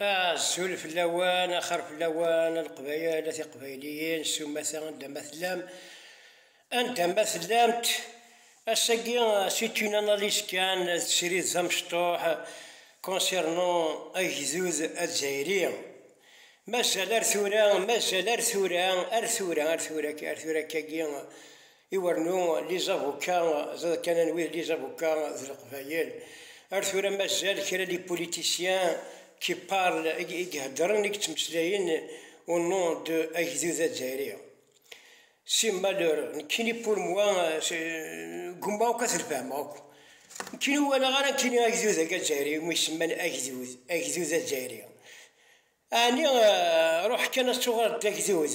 Azul fell-awen, axir fell-awen a Leqbayel, a Tiqbayliyin, sumata anda ma tellam, anda ma tellamt, ass-agi c'est une analyse kan, d srid d amecṭuḥ concernant agdud azzayri, mazal ar tura, mazal ar tura, ar tura, ar tura, ar tura-agi. Iwernu Liza Bukka d akan anwi d Liza Bukka d Leqbayel. Ar tura mazal kra les politiciens qui parlent, i iheddren, i yettmeslayen au nom de agdud azzayri. C'est malheureux. Nekkini pour moi gummaɣ akk ad t-lfehmeɣ akk. Nekkini ur walaɣ ara nekkini agdud agi azzayri umi semman agdud, agdud azzayri. Ɛni ruḥ kan ad tuɣaleḍ d agdud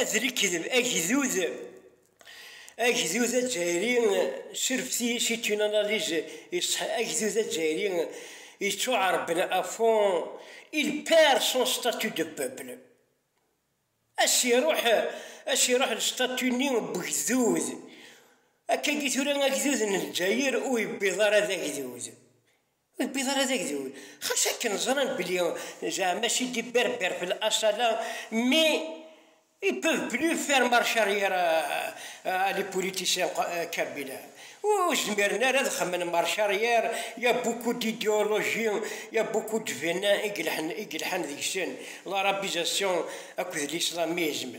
Ad rekdeb agdud agdud azzayri surfti c'est une analyse iṣeḥ agdud azzayri yeţţuɛerben à fond il perd son statut de peuple as iruḥ as iruḥ lstatut-nni n ugdud akkagi tura agdud n Lezzayer ur yewwiḍ ara d agdud Ur tewwiḍ ara d agdud. Xas akken ẓran belli zeɛma si des berbères de l'Assala mais ils peuvent plus faire marche arrière à les politiciens kabyles. Ur zmiren ara ad xemmen marche arrière, il y a beaucoup d'idéologie, il y a beaucoup de venin i yelḥan deg-sen, l'arabisation akked l'islamisme.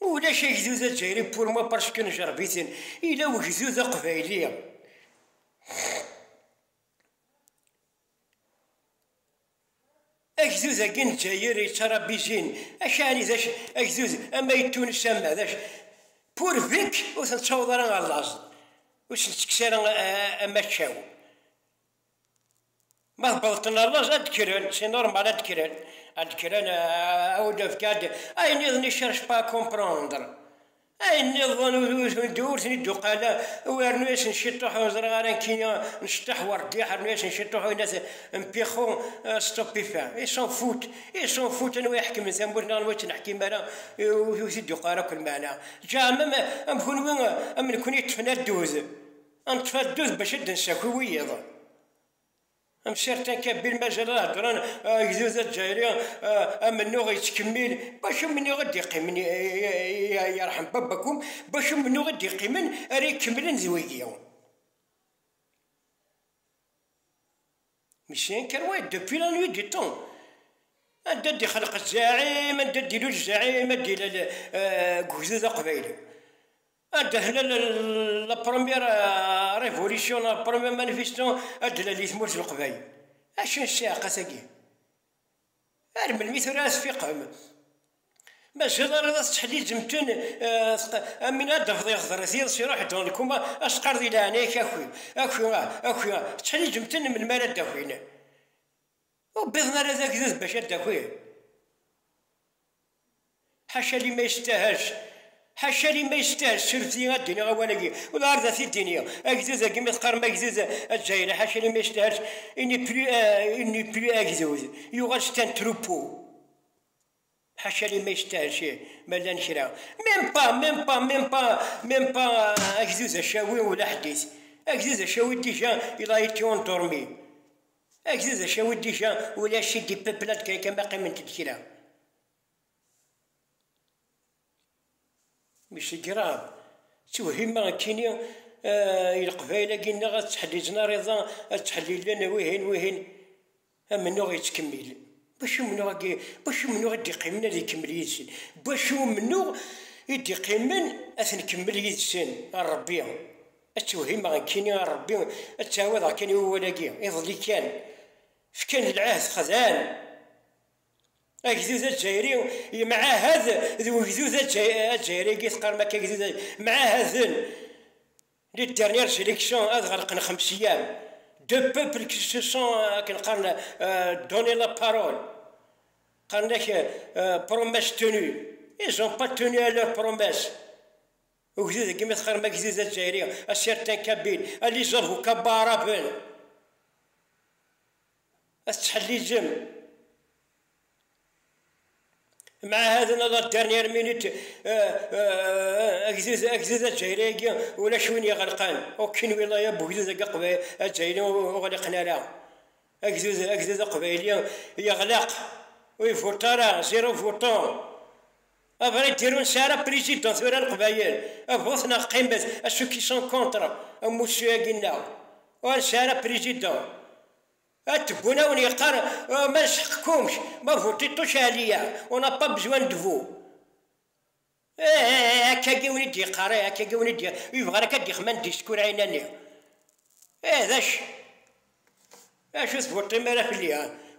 Ulac agdud azzayri pour moi parce que nejreb-iten, yella wegdud aqbayli. Agdud agi n Lezzayer yettarabi zin, acɛni d agdud ama i Tunes ama d pour vink ur ten-ttaweḍ ara ɣer laẓ, ur sen-ttekkes ara amaccaw. Ma ṭṭeḍqen rrez ad d-kkren, c'est normal ad d-kkren, ad d-kkren aw-d-fkan-d ayen nniḍen ils cherchent pas à comprendre, ayen nniḍen ur ten-id-uqal ara, rnu-yasen ciṭuḥ ur ẓriɣ ara nekki nceṭṭeḥ werdiḥ, rnu-yasen ciṭuḥ win ad mpixu stop et fin, ils s'en foutent, ils s'en foutent anwa iḥekmen tamurt neɣ anwa ur tt-neḥkim ara ur t-id-uqal ara akk lmeɛna, ǧa am kenwi am nekni ṭṭfen addud. Am tfaddut bac ad d-nsaki wiyaḍ. Am certains Kabil mazal ad heddren agdud azzayri amennuɣ yettkemmil bac amennuɣ i d-iqqimen yerḥem babakum bac amennuɣ i d-iqqimen ara ikemmlen d wigi. Mais c'est un carouet depuis la nuit des temps. Anda ad d-ixelq zzaɛim, anda ad d-ilul zzaɛim ad d-ilal deg ugdud aqbayli. Adehnan la première révolution, la première manifestation adlal i tmurt n Leqbayel. Acu n ssiɛqa-agi? Ar melmi tura ara tfiqem? Mazal ara la tettḥelliǧem-ten am win ara d-tafeḍ iɣeḍres yiḍes iruḥ dans le coma, ad s-teqqareḍ di leɛnaya-k aki, aki, aki, tettḥelliǧem-ten melmi ara d-akin? Ur wwiḍen ara d agdud bac ad d-akin? Ḥaca liman yestahaz, ḥaca liman yestahaz, srefti ad d-iniɣ awal-agi, uḍar d at-id-ini, agdud agi ma teqqarem agdud azzayri, ḥaca liman yestahaz, il n'est plus, il n'est plus agdud, yuɣal c'est un troupeau, ḥaca liman yestahaz ih, ma llan kra, même pas, même pas, même pas, même pas agdud acawi ula ḥdit, agdud acawi déjà il a été endormi. Agdud acawi dija ulac i d-ipepla deg akka ma qqiment-d kra. Mi s-greɣ ttewhima nekkini i leqbayel-agi nneɣ ad ttḥellizen ariḍa, ad ttḥellilen wihin wihin, amennuɣ yettkemmil. N wacu umennuɣ-agi? N wacu umennuɣ i d-iqqimen ad ikemmel yid-sen? N wacu umennuɣ i d-iqqimen ad t-nkemmel yid-sen? A Rebbi! Ad tewhimeɣ nekkini a Rebbi, ad ttɛawadeɣ kan i wawal-agi, iḍelli kan, fkan lɛehd xedɛen. Agdud azzayri yemɛahad d wegdud azzayri agi teqqarem akka agdud azzayri, mɛahaden les dernières élections ad ɣelqen xems eyyam, deux peuples qui se sont akken qqaren donné la parole, qqaren-ak promesse tenue, ils ont pas tenu à leur promesse. Ugdud agi ma teqqarem agdud azzayri, a certains kabyle, a les avocats baaraben, a tettḥellizem, mɛahaden à la dernière minute agdud agdud azzayri agi ulac win iɣelqen, aucune wilaya n ugdud agi azzayri ur ɣliqen ara, agdud agdud aqbayli yeɣleq, ur ivuṭ ara, zéro votant. Abrid dirun sɛa la président tura leqbayel a bu-t neɣ qqimet a ceux qui sont contre amussu agi nneɣ ur nesɛi ara président a tebun a wen yeqqar ma d sḥeq kumc ma voter tous Alia on n'a pas besoin de vous eh eh eh akka agi wen i d-yeqqar eh akka agi wen i d yebɣan akka d-yexman discours ɛinani eh d acu d acu ur tvoter mi ara fell-i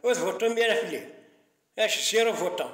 ur tvoter mi ara fell-i acu zéro votant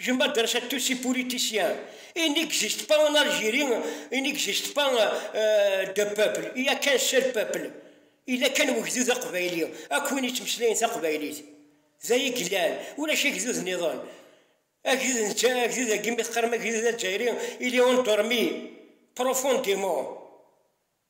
Je m'adresse à tous ces politiciens. Il n'existe pas en Algérie, il n'existe pas euh, de peuple. Il n'y a qu'un seul peuple. Il a qu'un wegdud aqbayli. Ak win yettmeslayen taqbaylit. D ay yellan. Ulac agdud niḍen. Agdud netta, agdud agi mi teqqarem agdud azzayri, il est endormi profondément.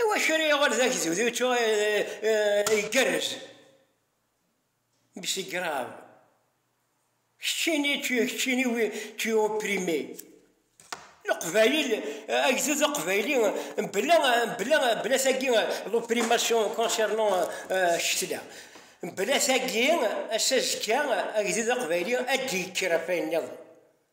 Iwacu ara yuɣal d agdud igerrez? Mais c'est grave. Keččini, tu es keččini, oui, tu es opprimé. Leqbayel, agdud aqbayli, bla, bla, bla tagi, l'opprimation concernant ccetla. Bla tagi, ass azekka, agdud aqbayli ad d-yekker ɣef wayen nniḍen.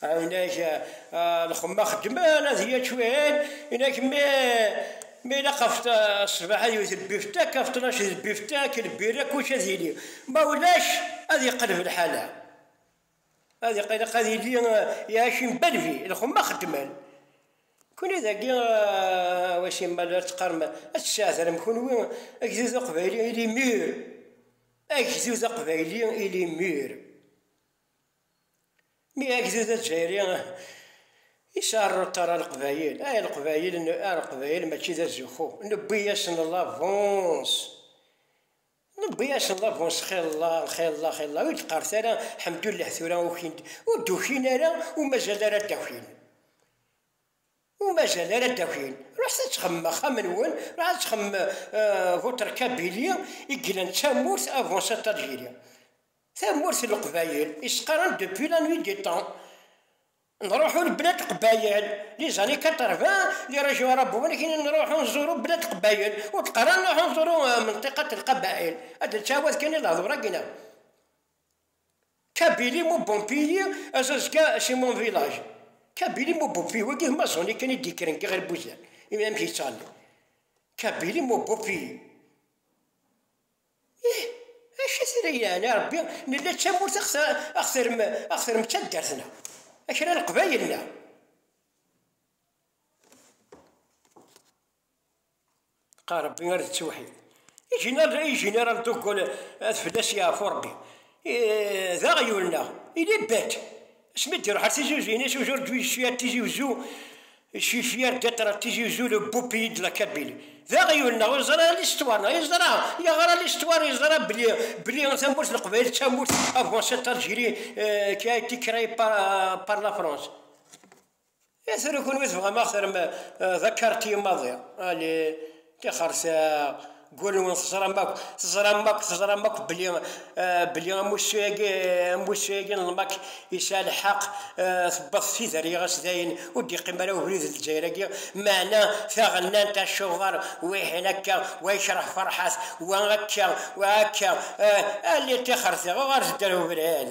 Inak lxemma xeddmen ad ya ččwin, inak mi mi ilaq ɣef ṣṣbeḥ ad iwet lbiftek, ɣef ṭnac d lbiftek, lbirra kullec ad yili, ma ulac ad yeqleb lḥala. Ad iq ilaq ad yili Iɛacim Belbi, lxemma xeddmen. Kunwi dagi wa simmal ara teqqarem ad tesɛetrem kunwi agdud aqbayli il est mûr, agdud aqbayli il est mûr. Mi agdud azzayri yesɛa rruṭar a leqbayel, ay leqbayel, a leqbayel mačči d azuxxu, newwi-yasen labuns, newwi-yasen labuns xilla, xilla, xilla, ur d-qqaret ara ḥemdullah tura ukin-d, ur d-ukin ara, ur mazal ara ad d-akin, ur mazal ara ad d-akin, ruḥet ad texdmem axxam-nwen, ruḥ ad texdmem votre kabylie i yellan d tamurt, abuns a Tajiri. Tamurt n Leqbayel, i s-qqaren depuis la nuit des temps. Nruḥu lblad Qbayel, les années 80, les régions arabouennes kini nruḥu nzuru blad Qbayel, ur d-qqaren nruḥu nzuru Menteqat Lqabael. Ad d-nettɛawad kan i lehdur-agi neɣ? Kabili mu bon pays, azazga c'est mon village. Kabili mu bon pays, wagi ma zoni kan i d-yekkren kan ɣer Buzan, imi amek yettɣenni. Kabili mu bon pays. Ih, acu i t-ilan yeɛni a Rebbi, nella d tamurt axterm axterm d taddart-nneɣ, a kra n Leqbayel neɣ. Qa Rebbi ar d ttewḥid. I Général i Général de Gaulle ad fell-as yeɛfu Rebbi, d aɣyul neɣ, il est bête. Asmi d-iruḥ ar Tizi Uzzu, yenna-as ujuṛǧu yecfi ar Tizi Uzzu, yecfi ar Gaṭer ar Tizi Uzzu, le beau pays de la Kabylie. D aɣyul-nneɣ, ur yeẓri ara listwaṛ-nneɣ, yeẓra, yeɣra listwaṛ, yeẓra belli, belli tamurt n Leqbayel d tamurt avancée, Algérie qui a été créée par, par la France. I tura kunwi tebɣam ad ɣ-terrem d akarti maḍi? Ali, tixersaɣ, gul-nwen teẓram akk, teẓram akk, teẓram akk belli, belli amussu-agi, amussu-agi n lmak yesɛa lḥeqq, tewweḍ tidal iɣes dayen ur d-yeqqim ara ubrid n Lezzayer-agi, meɛna taɣennant acuɣer wihin akka, wa yekreh Ferḥat, wa akka, wa akka, ah, Ali, tixersaɣ, uɣalet-d ar ubrid!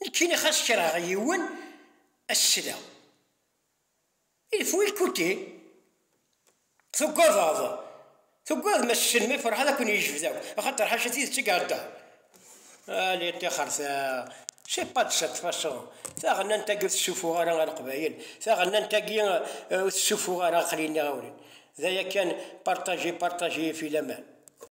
Nekkini xas kreɣ yiwen ad t-sleɣ. Il faut écouter. Tugadeḍ, tugadem a s-tessnem i Ferḥat ad ken-yejbed akk, axaṭer ḥaca tidet i ihedder. Allez ṭixer-t-a, c'est pas de cette façon, taɣennant-agi ur tessufuɣ ara a Leqbayel, taɣennant-agi ur tessufuɣ ara, aql-i nniɣ-awen-d, d aya kan, partagez, partagez, et puis laman.